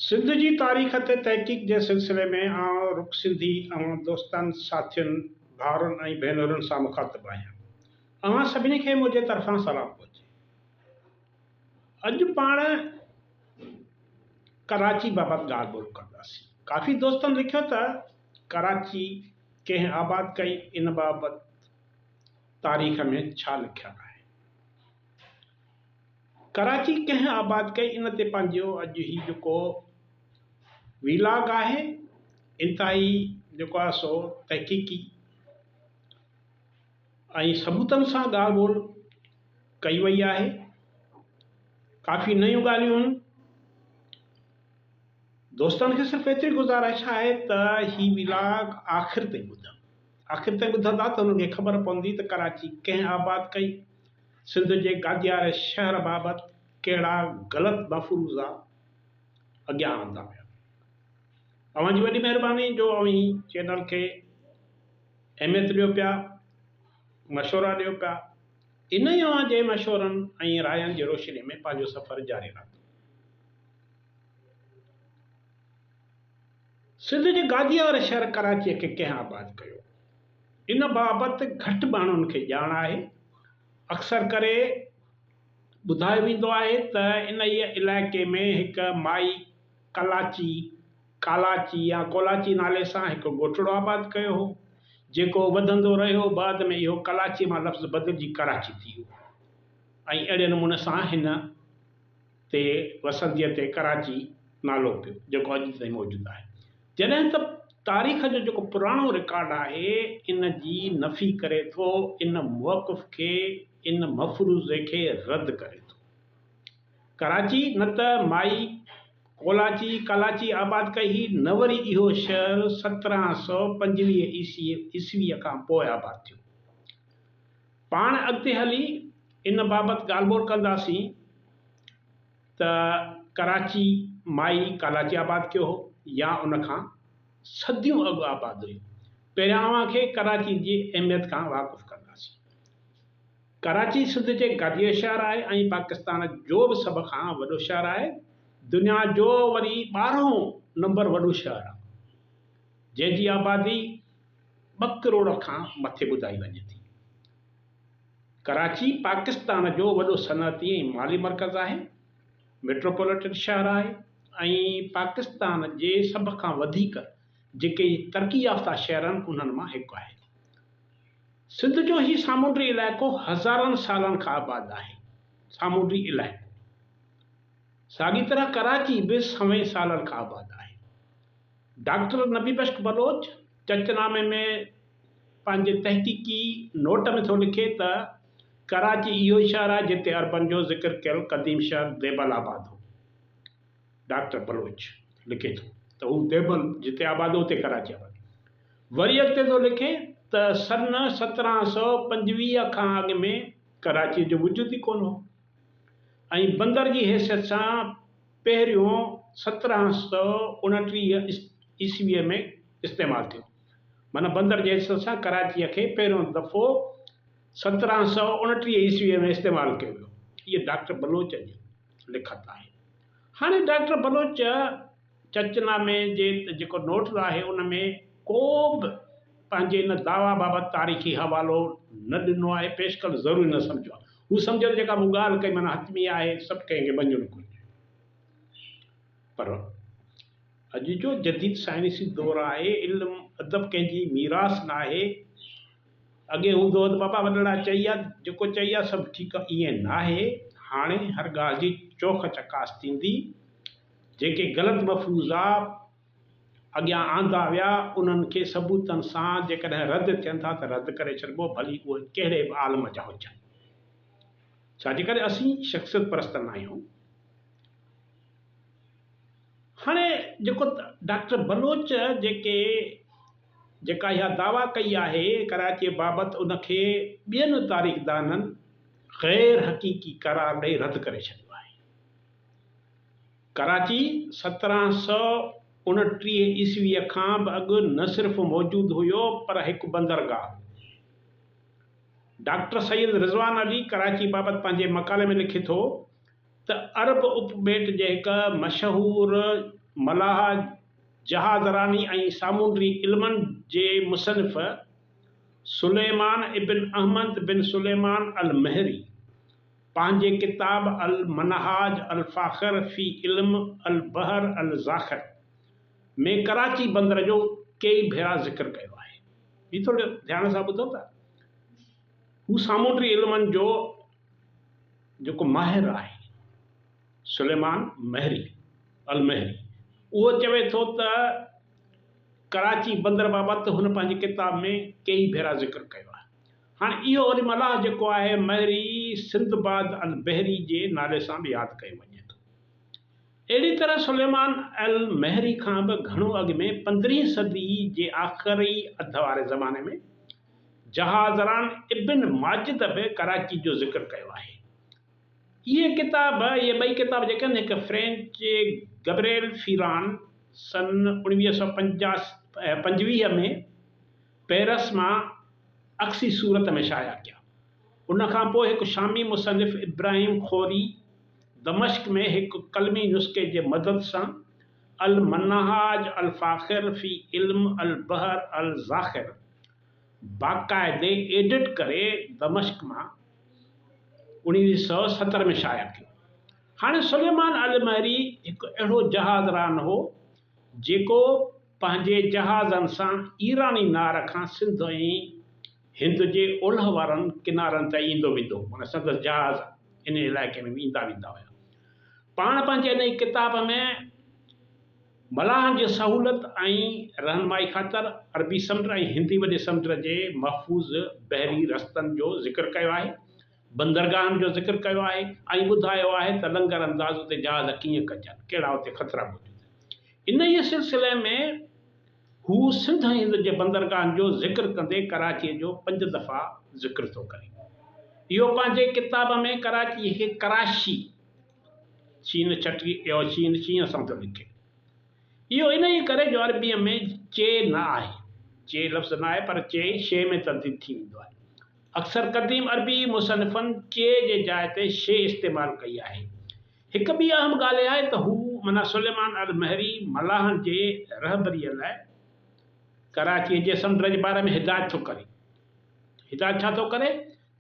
سنڌ جي تاريخ تي تحقيق جي سلسلي ۾ آء رخ سنڌي اوهان دوستن، ساٿين، ڀائرن ۽ ڀينرن سان مخاطب آهيان. اوهان سڀني کي منهنجي طرفان سلام پهچي. اڄ پاڻ ڪراچي بابت ڳالهه ٻولهه ڪنداسين. ڪافي دوستن لکيو ته ڪراچي ڪنهن آباد ڪئي ان بابت تاريخ ۾ ڇا لکيل آهي. ڪراچي ڪنهن آباد ڪئي ان تي پنهنجو اڄ هي جيڪو ويلاگ آهي انتهائي جيڪو آهي سو تحقيقي ۽ ثبوتن سان ڳالهه ٻولهه ڪئي وئي آهي ڪافي نيون ڳالهيون هيون دوستن کي صرف ايتري گذارش آهي ته هي ويلاگ آخر تائين ٻڌن آخر تائين ٻڌندا ته انهن کي خبر پوندي ته ڪراچي ڪنهن آباد ڪئي سنڌ جي گادياري شهر بابت ڪهڙا غلط مفروضا اڳيان آندا ويا. اوهان جي وڏي مهرباني جو اوهين چينل کي اهميت ڏيو پيا، مشورا ڏيو پيا، انهي اوهان جي مشورن ۽ راين جي روشني ۾ پنهنجو سفر جاري رهندو. سنڌ جي گاديء واري شهر ڪراچيء کي ڪنهن آباد ڪيو؟ ان بابت گهٽ ماڻهن کي ڄاڻ آهي. اڪثر ڪري ٻڌايو ويندو آهي ته انهيء علائقي ۾ هڪ مائي ڪلاچي، ڪالاچي يا ڪولاچي نالي سان هڪ ڳوٺڙو آباد ڪيو هو، جيڪو وڌندو رهيو، بعد ۾ اهو ڪلاچي مان لفظ بدلجي ڪراچي ٿي ويو ۽ اهڙي نموني سان هن. تي وسنديء تي ڪراچي نالو پيو، جيڪو اڄ تائين موجود آهي. جڏهن ته تاريخ جو جيڪو پراڻو رڪارڊ آهي، ان جي نفي ڪري ٿو، ان موقف کي، ان مفروضي کي رد ڪري ٿو. ڪراچي نه ته مائي ڪولاچي، ڪالاچي، آباد ڪئي هئي، نه وري اهو شهر سترهن سؤ پنجويهه عيسويء کان پوء آباد ٿيو. پاڻ اڳتي هلي ان بابت ڳالهه ٻولهه ڪنداسين ته ڪراچي مائي ڪالاچي آباد ڪيو هو يا ان کان صديون اڳ آباد هئي. پهريان اوهان کي ڪراچي جي اهميت کان واقف ڪنداسين. ڪراچي سنڌ جي گاديء جو شهر آهي ۽ پاڪستان جو به سڀ کان وڏو شهر آهي. دنيا جو وري ٻارهون نمبر وڏو شهر آهي. جنهن جي آبادي ٻه ڪروڙ کان مٿي ٻڌائي وڃي ٿي. ڪراچي پاڪستان جو وڏو صنعتي ۽ مالي مرڪز آهي، ميٽروپوليٽن شهر آهي ۽ پاڪستان جي سڀ کان وڌيڪ جيڪي ترقي يافته شهر آهن انهن مان هڪ آهي. سنڌ جو هي سامونڊي علائقو هزارن سالن کان آباد آهي. سامونڊي علائقو. ساڳي طرح ڪراچي به سوين سالن کان آباد آهي. ڊاڪٽر نبي بخش بلوچ چرچ نامي ۾ پنهنجي تحقيقي نوٽ ۾ ٿو لکي ته، ڪراچي اهو ئي شهر آهي جتي عربن جو ذڪر ڪيل قديم شهر ديبل آباد هو. ڊاڪٽر بلوچ لکي ٿو ته هو ديبل جتي آباد هو اتي ڪراچي آباد هئي. وري اڳتي ٿو لکي ته سن سترهن سؤ پنجويهه کان اڳ ۾ ڪراچيء جو وجود ئي ڪونه هو ۽ بندر جي حيثيت سان پهريون سترهن سؤ اڻٽيهه عيسويء ۾ استعمال ٿيو. معنيٰ بندر جي حيثيت سان ڪراچيء کي پهريون دفعو سترهن سؤ اڻٽيهه عيسويء ۾ استعمال ڪيو ويو. هيء ڊاڪٽر بلوچ جي لکت آهي. هاڻي ڊاڪٽر بلوچ چچ نامي جي جيڪو نوٽس آهي، ان ۾ ڪو به پنهنجي ان دعويٰ بابت تاريخي حوالو نه ڏنو آهي، پيش ڪرڻ ضروري نه سمجهيو آهي. هو سمجهيو ته جيڪا مون ڳالهه ڪئي معنيٰ حتمي آهي، سڀ ڪنهن کي مڃڻ گهرجي. پر اڄ جو جديد سائنسي دور آهي، علم ادب ڪنهن جي ميراث ناهي. اڳي هوندو هو ته بابا وڏڙا چئي ويا، جيڪو چئي ويا سڀ ٺيڪ آهي، ائين ناهي. هاڻي هر ڳالهه جي چوک چڪاس ٿيندي، جيڪي غلط مفروضا اڳيان آندا ويا، انهن کي ثبوتن سان جيڪڏهن رد ٿين ٿا ته رد ڪري ڇڏبو، ڀلي اهي ڪهڙي به عالم جا هجن. ڇا جي ڪري اسين شخصيت پرست ناهيون؟ هاڻي جيڪو ڊاڪٽر بلوچ جيڪي جيڪا اها دعويٰ ڪئي آهي ڪراچيء بابت ان کي ٻين تاريخدانن غير حقيقي قرار ڏئي رد ڪري ڇڏيو آهي. ڪراچي، سترهن سؤ اڻٽيهه عيسويء کان به اڳ نه صرف موجود هيو پر هڪ بندرگاهه. ڊاڪٽر سيد رضوان علي ڪراچي بابت پنهنجي مقالي ۾ لکي ٿو ته عرب اپ ٻيٽ جي هڪ مشهور ملاح، جهازراني ۽ سامونڊي علمن جي مصنف سليمان ابن احمد بن سليمان المهري، پنهنجي ڪتاب المنهاج الفاخر في علم البحر الذاخر ۾ ڪراچي بندر جو ڪيئي ڀيرا ذڪر ڪيو آهي. هي ٿوري ڌيان سان ٻڌو ته هو سامونڊي علمن جو جيڪو ماهر آهي سليمان مهري، المهري، اهو چوي ٿو ته ڪراچي بندر بابت هن پنهنجي ڪتاب ۾ ڪيئي ڀيرا ذڪر ڪيو آهي. هاڻ اهو وري ملاح جيڪو آهي مهري سندباد البحري جي نالي سان به ياد ڪيو وڃي ٿو. اهڙي طرح سليمان المهري کان به گهڻو اڳ ۾ پندرهين صدي جي آخري اڌ واري زماني ۾ جهاز ران ابن ماجد به ڪراچي جو ذڪر ڪيو آهي. اهي ڪتاب اهي ٻئي ڪتاب جيڪي آهن هڪ فرينچ گبريل فيران سن اوڻويهه سؤ پنجاهه ۾ پئرس مان عڪسي صورت ۾ شايع ڪيا. ان کان پوء هڪ شامي مصنف ابراهيم خوري دمشق ۾ هڪ قلمي نسخي جي مدد سان المنهاج الفاخر في علم البحر الذاخر باقاعدي ايڊٽ ڪري دمشق مان اوڻيهه سؤ ستر ۾ شايع ڪيو. هاڻي سليمان المهري هڪ اهڙو جهاز ران هو، جيڪو پنهنجي جهازن سان ايراني نار کان سنڌ ۽ هند جي اولهه وارن ڪنارن تائين ايندو ويندو هو معنيٰ سندس جهاز ان علائقي ۾ به ايندا ويندا هيا پاڻ پنهنجي انهي ڪتاب ۾ ملاحن جي سهولت ۽ رهنمائي خاطر عربي سمنڊ ۽ هندي وڏي سمنڊ جي محفوظ بحري رستن جو ذڪر ڪيو آهي بندرگاهن جو ذڪر ڪيو آهي ۽ ٻڌايو آهي ته لنگر انداز تي جهاز ڪيئن ڪجن، ڪهڙا اتي خطرا موجود آهن. انهيء سلسلي ۾ هو سنڌ ۽ هند جي بندرگاهن جو ذڪر ڪندي ڪراچيء جو پنج دفعا ذڪر ٿو ڪري. اهو پنهنجي ڪتاب ۾ ڪراچيء کي ڪراشي، شين ڇٽي يو شين شينهن سان ٿو لکي. اهو انهيء ڪري جو عربيء ۾ چي نه آهي. چي لفظ نه آهي پر چي شي ۾ تبديل ٿي ويندو آهي. اڪثر قديم عربي مصنفن چي جي جاء تي شي استعمال ڪئي آهي. هڪ ٻي اهم ڳالهه اها آهي ته هو منا سليمان المهري ملاحن جي رهبريء لاء ڪراچيء جي سمنڊ جي باري ۾ هدايت ٿو ڪري. هدايت ڇا ٿو ڪري؟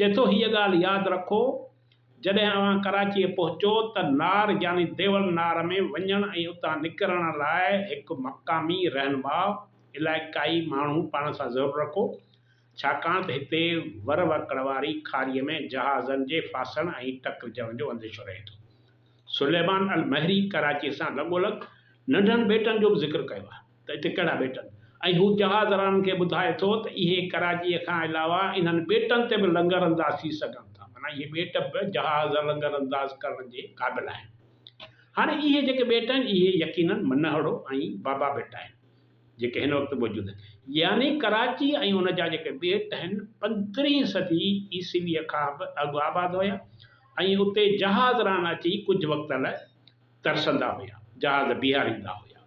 چئي ٿو هيء ڳالهه ياد رکو، جڏهن اوهان ڪراچيء پهچو ته نار يعني ديول نار ۾ وڃڻ ۽ اتان نڪرڻ لاء هڪ مقامي رهنما، علائقائي ماڻهو پاڻ سان ضرور رکو. ڇاڪاڻ ته هتي ور وڪڙ واري کاريء ۾ جهازن جي ڦاسڻ ۽ ٽڪرجڻ جو انديشو رهي ٿو. سليمان المهري ڪراچيء سان لڳولڳ ننڍن ٻيٽن جو به ذڪر ڪيو آهي ته اتي ڪهڙا ٻيٽ آهن ۽ هو جهاز رانن کي ٻڌائي ٿو ته اهي ڪراچيء کان علاوه انهن ٻيٽن تي به لنگر انداز ٿي سگهن ٿا معنيٰ اهي ٻيٽ به جهاز لنگر انداز ڪرڻ جي قابل آهن. هاڻي اهي جيڪي ٻيٽ آهن اهي يقيناً منهڙو ۽ بابا ٻيٽ آهن. جيڪي هن وقت موجود آهن، يعني ڪراچي ۽ ان جا جيڪي ٻيٽ آهن، پندرهين صدي عيسويء کان به اڳ آباد هيا ۽ اتي جهاز ران اچي ڪجهه وقت لاء ترسندا هيا، جهاز بيهاريندا هيا.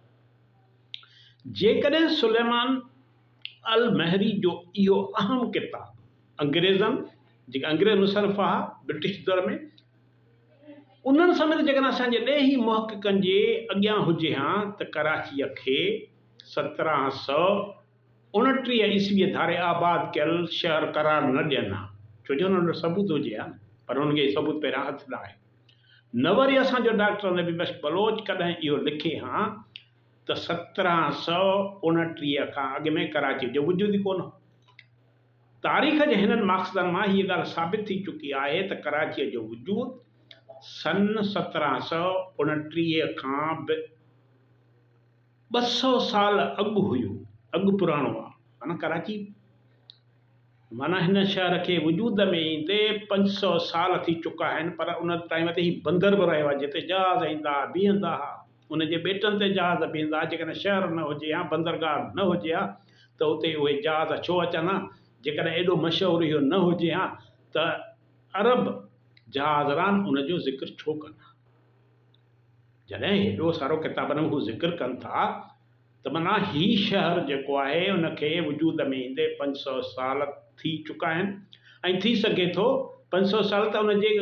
جيڪڏهن سليمان المهري جو اهو اهم ڪتاب انگريزن، جيڪي انگريز مصنف هئا برٽش دور ۾، انهن سميت جيڪڏهن اسان جي ڏيهي محققن جي اڳيان هجي ها ته ڪراچيء کي سترهن سؤ اڻٽيهه عيسويء ڌاري آباد ڪيل شهر قرار نه ڏين ها، ڇو جو انهن وٽ ثبوت هجي ها نه، پر انهن کي اهي ثبوت پهريان هٿ نه آيو. نه وري اسان جو ڊاڪٽر نبي بخش بلوچ ڪڏهن اهو لکي ها ته سترهن سؤ اڻٽيهه کان اڳ ۾ ڪراچيء جو وجود ئي ڪونه هو. تاريخ جي هنن مقصدن مان هيء ڳالهه ثابت ٿي چڪي آهي ته ڪراچيء جو وجود سن سترهن سؤ اڻٽيهه کان به ٻه سؤ سال اڳ هيو، اڳ پراڻو آهي. معنيٰ ڪراچي معنيٰ هن شهر کي وجود ۾ ايندي پنج سؤ سال ٿي چڪا آهن، پر ان تائين وڌي هي بندر به رهيو آهي، جتي جهاز ايندا ها، بيهندا ها. ان جي ٻيٽن تي جهاز بيهندا ها، جيڪڏهن شهر نه هجي ها، بندرگاهه نه هجي ها ته اتي اهي جهاز ڇو اچن ها؟ جيڪڏهن ايڏو مشهور اهو نه هجي ها ته عرب جهازران ان جو ذڪر ڇو ڪن ها؟ جڏهن هيڏو سارو ڪتابن ۾ هو ذڪر ڪن ٿا ته معنيٰ هي شهر جيڪو آهي ان کي وجود ۾ ايندي پنج سؤ سال ٿي چڪا آهن ۽ ٿي سگهي ٿو پنج سؤ سال ته ان جي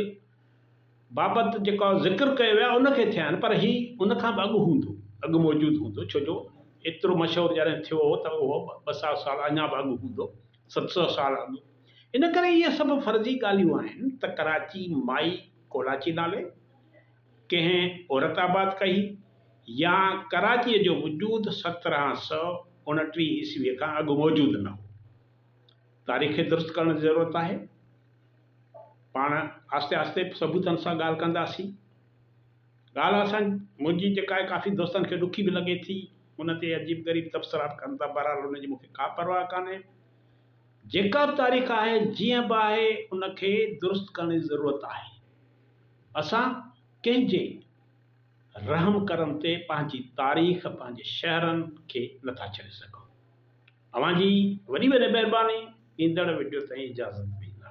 بابت جيڪا ذڪر ڪيو ويو آهي ان کي ٿيا آهن پر هي ان کان به اڳ هوندو اڳ موجود هوندو ڇو جو ايترو مشهور جڏهن ٿيو هو ته اهو ٻه سؤ سال اڃا به اڳ هوندو ست سؤ سال اڳ ان ڪري اهي سڀ فرضي ڳالهيون آهن ته ڪراچي مائي ڪولاچي نالي ڪنهن عورت آباد ڪئي يا ڪراچيء جو وجود سترهن سؤ اڻٽيهه عيسويء کان اڳ موجود نه هو تاريخ کي درست ڪرڻ جي ضرورت آهي. پاڻ آهستي آهستي ثبوتن سان ڳالهه ڪنداسين. ڳالهه اسان منهنجي جيڪا آهي ڪافي دوستن کي ڏکي به لڳي ٿي. ان تي عجيب غريب تبصرا به ڪن ٿا. بهرحال ان جي مون کي ڪا پرواهه ڪانهي. جيڪا به تاريخ آهي جيئن به آهي ان کي درست ڪرڻ جي ضرورت آهي. اسان ڪنهن جي رحم ڪرم تي پنهنجي تاريخ پنهنجي شهرن کي نٿا ڇڏي سگهون. اوهان جي وڏي وڏي مهرباني ايندڙ وڊيو تائين اجازت ڏيندا.